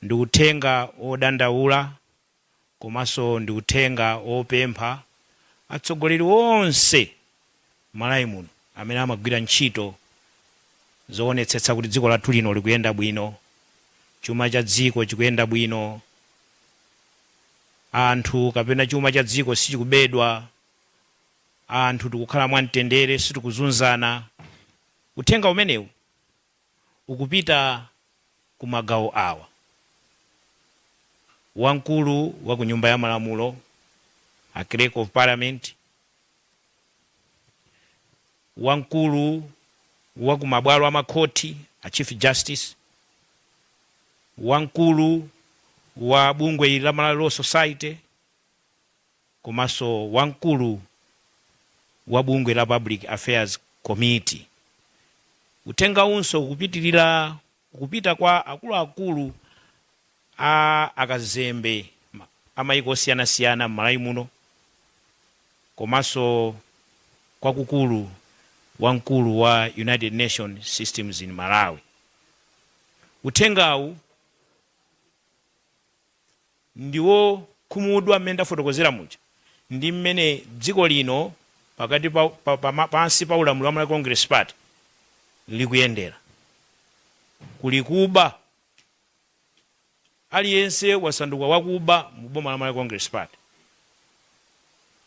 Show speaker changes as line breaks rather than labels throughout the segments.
Ndi uthenga wodandaula komanso ndi uthenga wopempha atsogoleri onse Malawi muno amene amagwira ntchito zowonetsetsa kuti dziko lathu lino likuyenda bwino, chuma cha dziko chikuyenda bwino, anthu kapena chuma cha dziko sichikubedwa, anthu tikukhala mwamtendere, sitikuzunzana. Uthenga umenewu. ukupita ku magawo awa, wamkulu wa ku Nyumba ya Malamulo, a Clerk of Parliament, wamkulu wa ku mabwalo a makhoti, a Chief Justice, wamkulu wa bungwe la Malawi Law Society, komanso wamkulu wa bungwe la Public Affairs Committee. Uthengawunso ukupitilira kupita kwa akuluakulu a akazembe a mayiko osiyanasiyana m'Malawi muno komanso kwakukulu wamkulu wa United Nations Systems in Malawi. Uthengawu. ndi wokhumudwa mmene ndafotokozera muja, ndi mmene dziko lino pakati pa- pansi pa ulamuliro wa Malawi Congress Party likuyendera. Kuli kuba, aliyense wasanduka wakuba mu boma la Malawi Congress Party.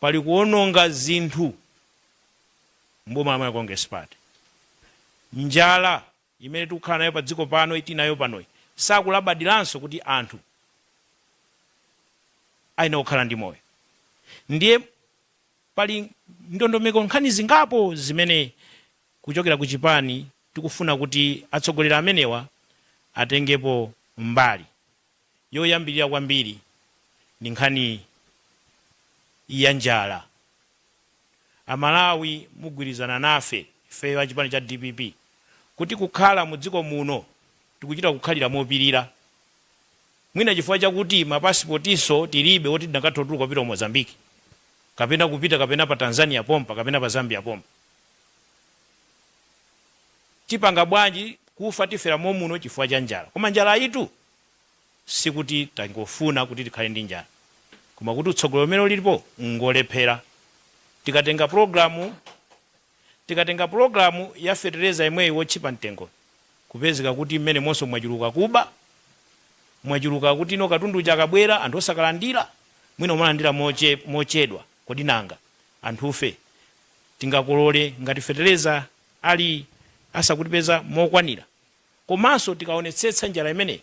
Pali kuononga zinthu mu boma la Malawi Congress Party. Njala imene tikukhala nayo padziko pano iyi, tili nayo panoyi, sakulabadiranso kuti anthu ayenera kukhala ndi moyo. Ndiye pali ndondomeko, nkhani zingapo zimene kuchokera ku chipani tikufuna kuti atsogoleri amenewa atengepo mbali. yoyambirira kwambiri ndi nkhani ya njala. A Malawi mugwirizana nafe ifeyo a chipani cha dpp kuti kukhala mu dziko muno tikuchita kukhalira mopirira. Mwina chifukwa chakuti ma pasipotinso tilibe oti tinakatha kutuluka kupita ku Mozambique kapena kupita kapena pa Tanzania pompa kapena pa Zambia pompa. tipanga bwanji kufa tifera momuno chifukwa cha njala koma njalayitu sikuti tangofuna kuti tikhale ndi njala koma kuti utsogoleri umene ulipo ngolephera tikatenga pulogalamu ya fetereza imeneyi wotchipa mtengo kupezeka kuti mmenemonso mwachuluka kuba mwachuluka kuti no katundu uja akabwera anthu osakalandira mwina kumalandira mochedwa kodi nanga Anthufe tingakolole ngati fetereza ali asakutipeza mokwanira komanso tikaonetsetsa njala imeneyi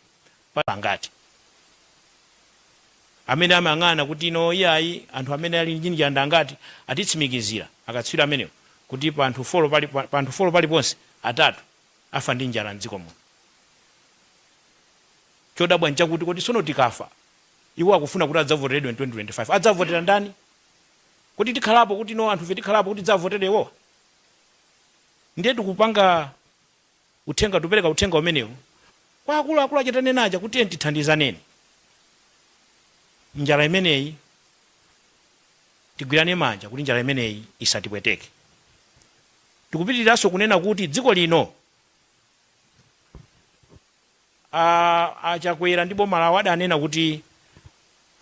pangati amene amayang'ana kuti no iyayi anthu amene ali ndi njala ndi angati atitsimikizira akatswiri amenewo kuti pa anthu folo paliponse atatu afa ndi njala m'dziko muno. Chodabwa n'chakuti kodi tsono tikafa iwo akufuna kuti adzavoteredwe in 2025 adzavotera ndani? Kodi tikhalapo kuti no anthufe tikhalapo kuti tidzawavotere iwowa? Ndiye tikupanga uthenga tikupereka uthenga umenewu kwa akuluakulu aja tanena aja kuti tiyeni tithandizaneni njala imeneyi tigwirane manja kuti njala imeneyi isatipweteke. Tikupitiriranso kunena kuti dziko lino. A a Chakwera ndi boma lawo adanena kuti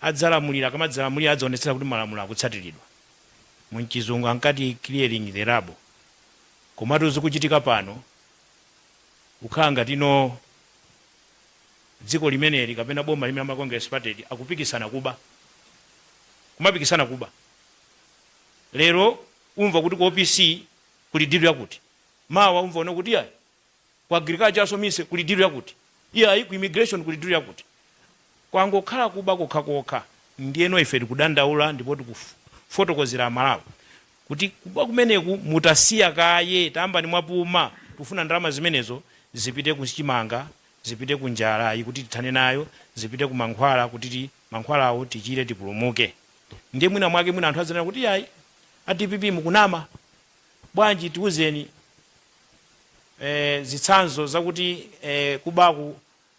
adzalamulira, akamadzalamulira adzaonetsetsa kuti malamulo akutsatiridwa. Mumchizungu ankati clearing the rubble. Komatu zikuchitika pano kukhala ngati no dziko limeneli kapena boma limene la Malawi Congress Party akupikisana kuba. Kumapikisana kuba. Lero umva kuti ku OPC kuli dilu yakuti. Mawa umva kuno kuti iyayi. Ku Agriculture aso mise kuli deal yakuti? Iyayi ku Immigration kuli deal yakuti? Kwangokhala kuba kokhakokha. Ndiyeno ife tikudandaula ndipo tikufotokozera a Malawi kuti kuba kumeneku mutausiya kaye, tayambani mwapuma. Tikufuna ndalama zimenezo zipite ku chimanga, zipite ku njalayi kuti tithane nayo, zipite ku mankhwala kuti mankhwalawo tichire, tipulumuke. Ndiye mwina mwake mwina anthu adzanena kuti iyayi a DPP mukunama bwanji? Tiuzeni. e Zitsanzo zakuti e kubaku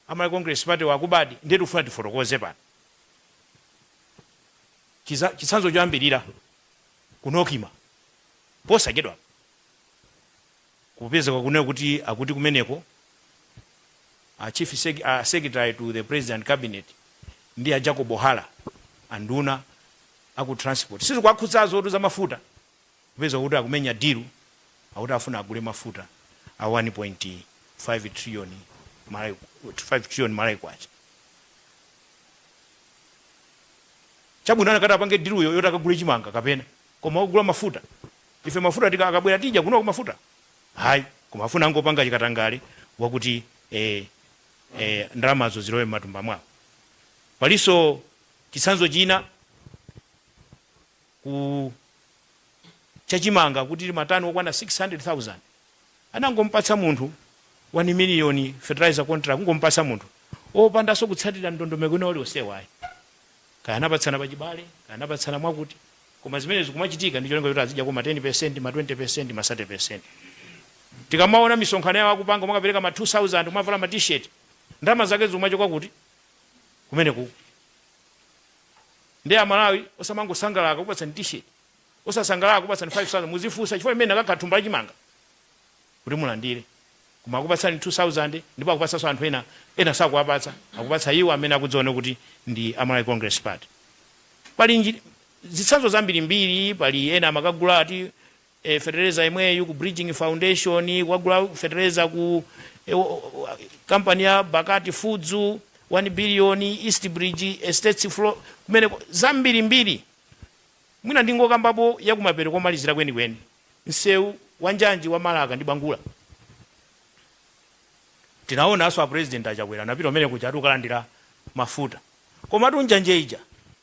a Malawi Congress Party wa akubadi ndiye tikufuna tifotokoze pano. Chiza, chitsanzo choyambirira ku NOCMA posachedwapa kupezeka kunena kuti akuti kumeneko a chief sec, a secretary to the President Cabinet ndi a Jacob Hara anduna aku transport si zikuwakhudzazo poti za mafuta Upeza kuti akumenya deal akuti afuna agule mafuta a 1.5 trillion Malawi 5 trillion Malawi kwacha. Chabwino anakati apange deal-yo yoti akagule chimanga kapena koma kugula mafuta. Ife mafuta tika akabwera tija kunoko mafuta. Ayi koma afuna angopanga chikatangale wakuti eh, eh, ndalamazo zilowe m'matumba mwawo. Palinso chitsanzo china ku cha chimanga kuti matani okwana 600,000 anangomupatsa munthu 1 miliyoni fertilizer contract kungomupatsa munthu opandanso kutsatira ndondomeko ina ulionsewo ayi kaya anapatsana pachibale kaya anapatsana mwakuti koma zimene zikumachitika ndi cholinga choti azidyako ma 10 ma 20 ma 30 tikamaona misonkhano yawo akupanga mwakapereka ma 2000 mwavala ma t-shirt ndalama zake zikumachoka kuti kumene kuku Nde amalawi osamangosangalala akakupatsani t-shirt, osasangalala akakupatsani 5000 muzifunsa chifukwa chimene inakakhala thumba la chimanga kuti mulandire. Koma akupatsani 2000 ndipo akupatsanso anthu ena, ena sakuwapatsa akupatsa iwo amene akudziona kuti ndi a Malawi Congress Party. Pali zitsanzo zambirimbiri, pali ena amakagula ati. e fetereza yemweyu ku bridging foundation kukagula fetereza ku e, o- o- kampani ya bakati foods 1 billion east bridge estates flo kumene zambirimbiri mwina ndingokambapo yakumapeto komalizira kwenikweni msewu wa njanji wa marka ndi bangula tinaonanso a president achakwera anapita kumene kuja ati kukalandira mafuta komatu njanji ija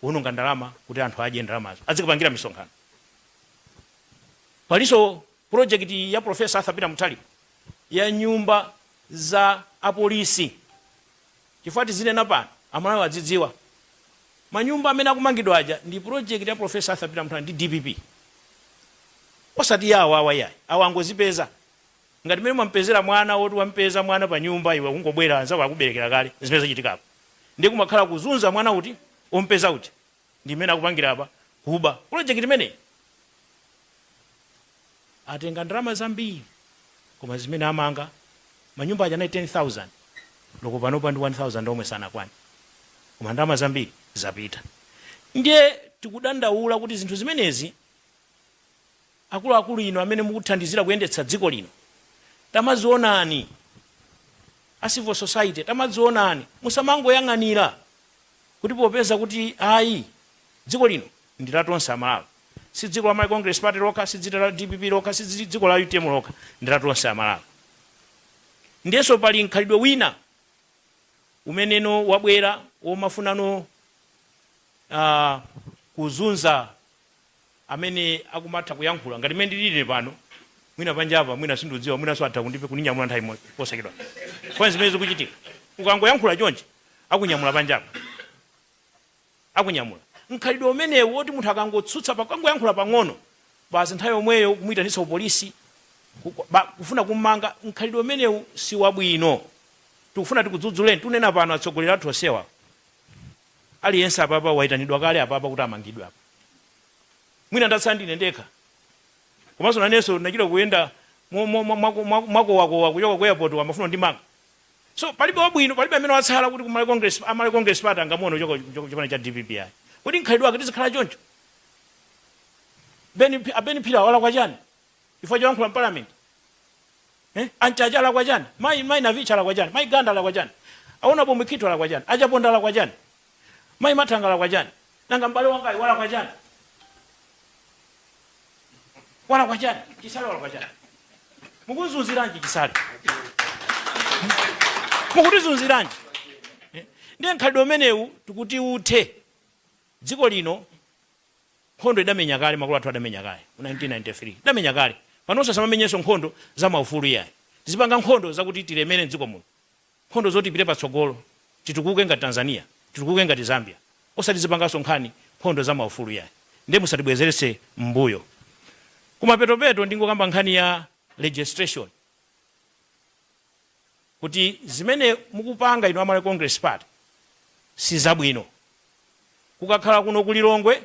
kuononga ndalama kuti anthu adye ndalamazo adzikapangira misonkhano palinso projekiti ya profesa arthur peter muthalika ya nyumba za apolisi chifukwa tizinena pano amalawi adzidziwa manyumba amene akumangidwa aja ndi projekiti ya profesa arthur peter muthalika ndi dpp osati ya awawa ayi awa angozipeza Ngati mmene mwamupezera mwana woti wamupeza mwana pa nyumba iwe ukungobwera anzako akuberekera kale zimene zachitika apa ndiye kumakhala kuzunza mwana uti omupeza uja ndi mmene akupangira apa kuba project imeneyi atenga ndalama zambiri koma zimene amanga manyumba aja anali 10000 olo panopa ndi 1000 omwe sanakwane koma ndalama zambiri zapita ndiye tikudandaula kuti zinthu zimenezi Akuluakulu inu amene mukuthandizira kuyendetsa dziko lino tamadzionani. A civil society tamadzionani. Musamangoyang'anira kuti popeza kuti ayi dziko lino ndi la tonse Amalawi. Si dziko la Malawi Congress Party lokha, si dzita la dpp lokha, si dzi dziko la utm lokha, ndi la tonse Amalawi. Ndiyenso pali mkhalidwe wina umenenso wabwera womafuna ah kuzunza amene akumatha kuyankhula ngati mmene ndilili ine pano, mwina panjapa, mwina sindikudziwa, mwinanso atha kundipe, kundinyamula nthawi imodzi posachedwapa. Koma n'zimene zikuchitika. Ukangoyankhula chonchi, akunyamula panjapa. Akunyamula. Mkhalidwe umenewu woti munthu akangotsutsa pa, akangoyankhula pang'ono, basi nthawi yomweyo kumuitanitsa kupolisi, ku, ku, ba, kufuna kummanga, mkhalidwe umenewu si wabwino. Tikufuna tikudzudzuleni, tunena pano atsogoleri athu onsewa. Aliyense apapa waitanidwa kale apapa kuti amangidwe apa. Mwina ndatsala ndine ndekha. Komanso nanenso ndinachita kuyenda mo- mo- mo- mwa- mwa- mwakowakowa kuchoka ku airport amafuna andimange. So palibe wabwino, palibe amene watsala kuti ku Malawi Congress, a Malawi Congress Party angamuone kuchoka kuchoka kuchipani cha DPP ayi. Kodi mkhalidwe wake tizikhala choncho? Ben Pi- a Ben Phiri alakwa chani? chifukwa choyankhula m'parliament eh? a Mchacha alakwa chani Mayi Mayi Navicha alakwa chani Mayi Ganda alakwa chani a Honourable Mkwito alakwa chani a Chaponda alakwa chani Mayi Mathanga alakwa chani nanga m'bale wangayi walakwa chani walakwa chani Chisale walakwa chani mukumuzunziranji Chisale mukutizunziranji Eh? ndiye mkhalidwe umenewu tikuti uthe dziko lino Nkhondo tidamenya kale, makolo athu adamenya kale mu 1993. Tidamenya kale. Panonso tisamamenyenso nkhondo za maufulu iyayi. Tizipanga nkhondo zakuti tilemere m'dziko muno. Nkhondo zoti tipite patsogolo, titukuke ngati Tanzania, titukuke ngati Zambia. Osati tizipanganso nkhani nkhondo za maufulu iyayi. Ndiye musatibwezeretse mmbuyo. Kumapetopeto ndingokamba nkhani ya registration. kuti zimene mukupanga inu a Malawi Congress Party sizabwino. Kukakhala kuno ku Lilongwe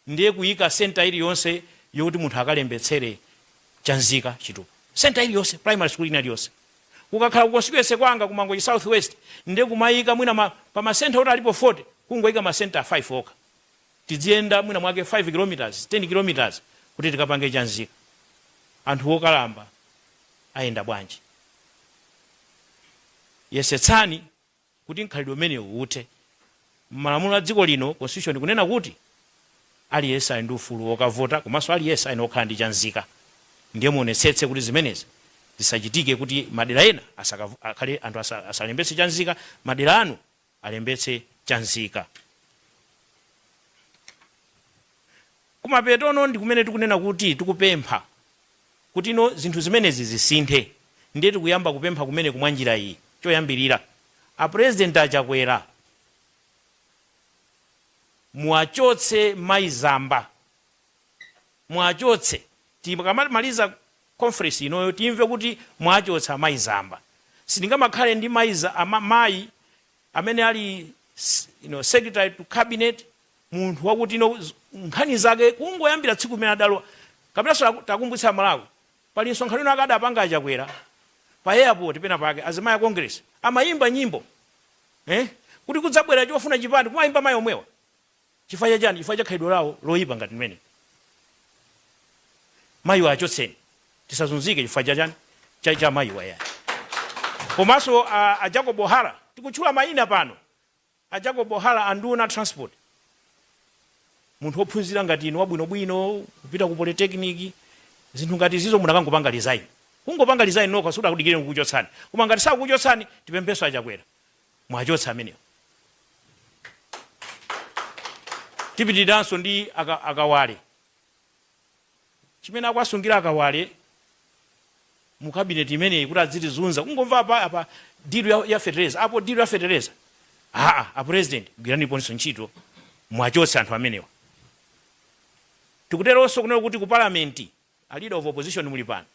ndiye kuyika centre iliyonse yoti munthu akalembetsere cha unzika chitupa. Centre iliyonse, primary school ina iliyonse. Kukakhala ku constituency kwanga ku Mangochi South West ndiye kumayika mwina pa ma centre oti alipo 40 kungoyika ma centre 5 okha. Tidziyenda mwina mwake 5 km, 10 km kuti tikapange cha unzika. Anthu wokalamba ayenda bwanji? Yesetsani kuti mkhalidwe umenewu uthe. M'malamulo a dziko lino, constitution, ikunena kuti aliyense ali ndi ufulu wokavota komanso aliyense ayenera kukhala ndi cha unzika. Ndiye muonetsetse kuti zimenezi zisachitike kuti madera ena asaka, akhale, anthu asa, asalembetse cha unzika, madera anu alembetse cha unzika. Kumapetono ndi kumene tikunena kuti tikupempha kuti no zinthu zimenezi zisinthe, ndiye tikuyamba kupempha kumeneku mwa njira iyi. Choyambirira, a President a Chakwera muwachotse Mayi Zamba, muwachotse tikamamaliza conference inoyo timve kuti mwachotsa Mayi Zamba sitingamakhale ndi mayi ama mayi amene ali you know secretary to cabinet munthu wakuti you know nkhani zake kungoyambira tsiku limene adalowa kapenanso ntakumbutsa a Malawi pali msonkhano wina adakapanga a Chakwera pa airport pena pake azimayi a Congress amayimba nyimbo eh kuti kudzabwera chofuna chipande kumayimba mayi omwewa Chifukwa cha chani? Chifukwa cha khalidwe lawo loipa ngati limeneli. Mayiwa achotseni. Tisazunzike chifukwa cha chani? Cha mayiwa iyayi. Komanso a, a Jacob Hara, tikutchula mayina pano. A Jacob Hara a nduna a transport. Munthu wophunzira ngati inu wabwinobwino, kupita ku polytechnic, zinthu ngati izizo munakangopanga resign. Kungopanga resign nokha sikuti akudikireni kukuchotsani. Koma ngati sakukuchotsani, tipemphenso a Chakwera. muwachotse amenewa. Tipitirirenso ndi aka, a Kawale chimene akuwasungira a Kawale mu kabineti imeneyi kuti adzitizunza kungomva apa apa dilu ya, ya fetereza apo dilu ya fetereza aa a president gwiraniponso ntchito muwachotse anthu amenewa tikuteronso kunena kuti ku palamenti A leader of opposition muli pano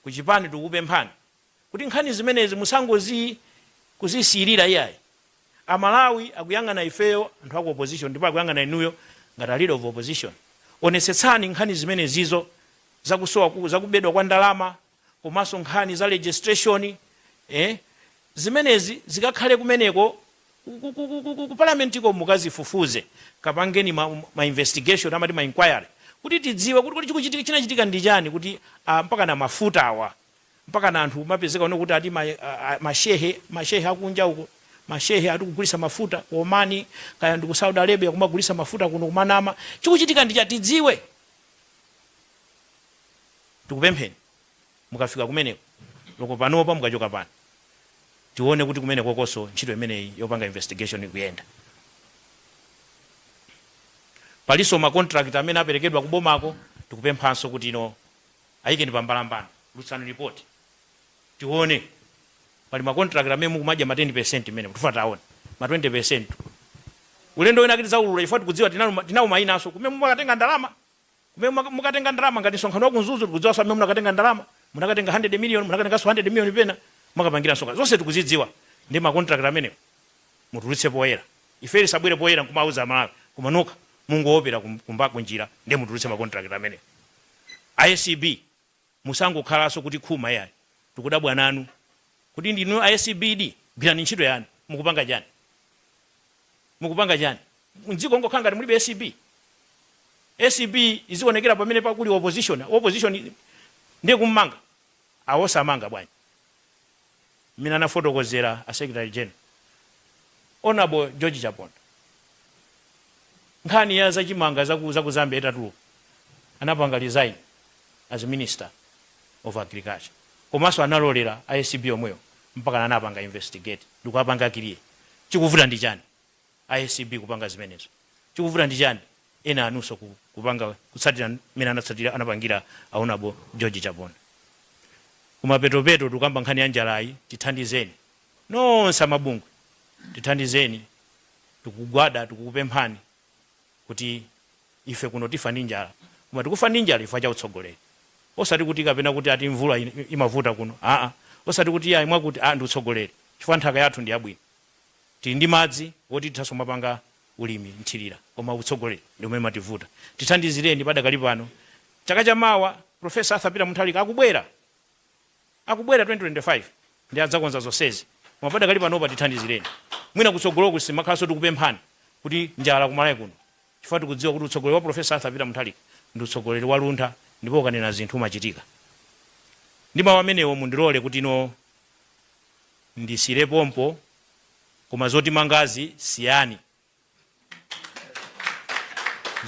ku chipani tikukupemphani kuti nkhani zimenezi musangozi kuzisiyirira iyayi. A Malawi akuyang'ana ifeyo anthu aku opposition ndipo akuyang'ana inuyo ngati a leader of opposition. Onetsetsani nkhani zimenezizo za kusowa, za kubedwa kwa ndalama komanso nkhani za registration eh, zimenezi zikakhale kumeneko ku parliamentiko mukazifufuze kapangeni ma, ma investigation amati ma inquiry kuti tidziwe kuti kuti chikuchitika chinachitika ndi chani kuti ah, mpakana mafuta awa mpakana anthu kumapezeka kuno kuti ati ma, ah, mashehe mashehe akunja uko mashehe atikugulisa mafuta ku Omani kaya ndi ku Saudi Arabia kumagulisa mafuta kuno kumanama chikuchitika ndi chani tidziwe Tikupempheni mukafika kumeneko olo panopa mukachoka pano tione kuti kumenekokonso ntchito imeneyi yopanga investigation ikuyenda. Palinso ma contract amene aperekedwa kubomako tikupemphanso kuti inu ayikeni pa mbalambanda tulutsani report tione pali ma contract amene mukumadya ma 10% mmenemo tifuna taone ma 20% tu. Ulendo wina ake tidzaulula chifukwa tikudziwa tinawo mainaso kumene mukatenga ndalama. Kumene mukatenga ndalama ngati nsonkhano wa ku Mzuzu tikudziwanso amene munakatenga ndalama, munakatenga 100 million, munakatenganso 100 million pena mukapangira nsonkhano. Zonse tikuzidziwa ndiye ma contract amenewo mutulutse poyera. Ifeyo tisabwere poyera nkumawuza Amalawi koma nokha mungoopera kumba kunjira ndiye mutulutse ma contract amenewo. Acb. Musangokhalaso kuti khuma iyayi tikudabwa nanu kodi ndinu a acb di gwirani ntchito yanu mukupanga chani mukupanga chani mdziko ngokhala ngati mulibe acb acb izionekera pamene pakuti opposition wa opposition ndiye kummanga awa osamanga bwanji mmene anafotokozera a secretary general Honourable George Chaponda nkhani ya za chimanga za ku za ku Zambia itatuluka anapanga resign as minister of agriculture komanso analolera a ACB yomweyo mpaka anapanga investigate ndikuwapanga clear chikuvuta ndi chani a acb kupanga zimenezo chikuvuta ndi chani ena anunso ku kupanga kutsatira mmene anatsatira anapangira a Honourable George Chaponda kumapetopeto tukamba nkhani ya njalayi tithandizeni nonse a mabungwe tithandizeni tikugwada tikukupemphani kuti ife kuno tifa ndi njala koma tikufa ndi njala chifukwa cha utsogoleri osati kuti kapena kuti ati mvula in- imavuta kuno aa osati kuti ayi mwakuti a ndi utsogoleri chifukwa nthaka yathu ndi yabwino Tili ndi madzi oti tithanso kumapanga ulimi mthirira koma utsogoleri ndi umene umativuta. Tithandizireni padakali pano. Chaka cha mawa Prof. Arthur Peter Mutharika akubwera akubwera 2025 ndiye adzakonza zonsezi koma padakali panopa tithandizireni. Mwina kutsogoloku sitimakhalanso tikupemphani kuti njala ku Malawi kuno chifukwa tikudziwa kuti utsogoleri wa Prof. Arthur Peter Mutharika ndi utsogoleri wa luntha ndipo ukanena zinthu umachitika. Ndi mawu amenewo mundilole kuti no. ndisiyire pompo koma zotimangazi siyani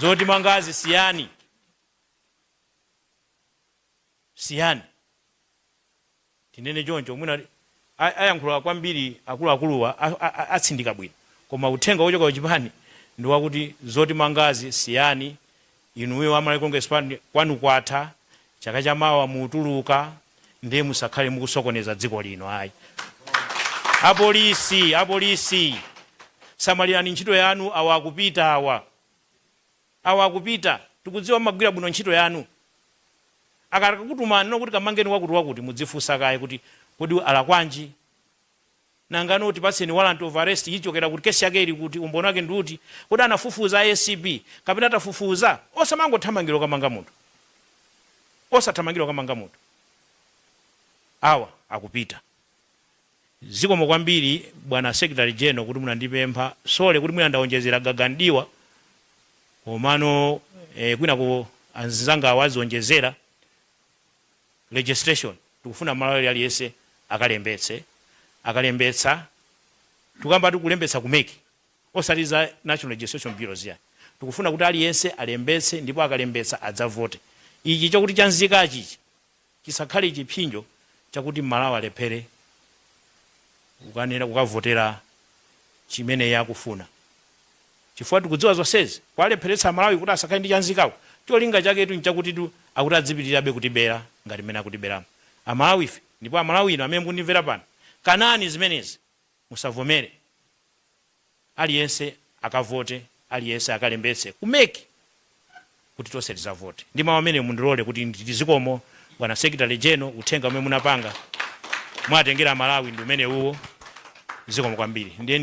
zotimangazi siyani siyani tinene choncho mwina a- ayankhula kwambiri akuluakuluwa a- a- a- atsindika bwino koma uthenga wochoka kuchipani ndi wakuti zotimangazi siyani Inuyo a Malawi Congress Party kwanu kwatha, chaka cha mawa mutuluka ndiye musakhale mukusokoneza dziko lino ayi. A Police, a Police samalirani ntchito yanu awa akupita awa. Awa akupita, tikudziwa mumagwira bwino ntchito yanu. Akakutumani kuti kamangeni wakuti wakuti mudzifunsa kaye kuti kodi alakwanji? Nangano tipatseni warrant of arrest ichokera kuti? Case yake ili kuti? Umboni wake ndi uti? Kodi anafufuza a acb? Kapena tafufuza? Osamangothamangira kukamanga munthu. Osathamangira kukamanga munthu. Awa akupita. Zikomo kwambiri bwana Secretary General kuti munandipempha. Sorry kuti mwina ndaonjezera gaga mdiwa komano eh kwinako anzangawa azionjezera. registration tikufuna mmalawi aliyense akalembetse akalembetsa tikukambatu kulembetsa ku mec osati za national registration bureau ziya tikufuna kuti aliyense alembetse ndipo akalembetsa adzavote ichi chokuti chanzikachi ichi chisakhale chiphinjo chakuti mmalawi alephere kukanena kukavotera chimene iye akufuna chifukwa tikudziwa zonsezi kuwalepheretsa amalawi kuti asakhale ndi cha unzikacho cholinga chaketu nchakutitu akuti adzipitirirabe kutibera ngati mmene akutiberamu amalawife ndipo amalawi inu amene mukundimvera pano kanani zimenezi musavomere aliyense akavote aliyense akalembetse ku mec kuti tonse tizavote ndi mau amenewo mundilole kuti nditi zikomo bwana secretary general uthenga umene munapanga mwatengera amalawi ndi umenewuwo zikomo kwambiri ndiye